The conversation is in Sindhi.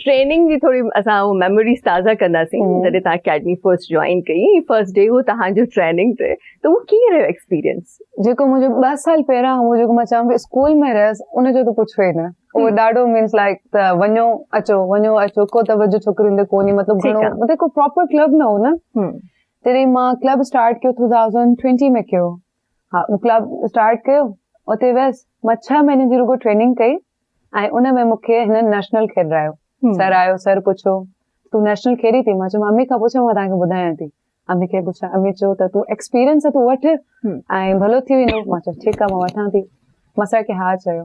ٽريننگ جي ٿوري اسان ميموريز تازا ڪنداسين جڏهن تان اڪيڊمي فرسٽ جوائن ڪئي فرسٽ ڊي هو تان جو ٽريننگ تي ته هو ڪي رهيو ايڪسپيرينس جيڪو مون جو 2 سال پهريان هو جيڪو مان چاهيان پي اسڪول ۾ رهيس ان جو ته پڇو ئي نه هو ڏاڍو مينس لائڪ ته وڃو اچو وڃو اچو ڪو توجه ڇوڪرين تي ڪوني مطلب گهڻو مطلب ڪو پراپر ڪلب نه هو نه تڏهن مان ڪلب اسٽارٽ ڪيو 2020 ۾ ڪيو ها مون ڪلب اسٽارٽ ڪيو اتي ويس مان ڇهه مهينن جي رڳو ٽريننگ ڪئي ۽ ان ۾ مون کي هنن نيشنل کيڏرايو سر آيو سر پڇيو تون نيشنل کيڏي ٿي مان چيو امي کان پڇو مان توهان کي ٻڌايان ٿي امي کي پڇا امي چيو ته تون ايڪسپيرينس اٿو وٺ ۽ ڀلو ٿي ويندو مان چيو ٺيڪ آ مان وٺان ٿي مان سر کي ها چيو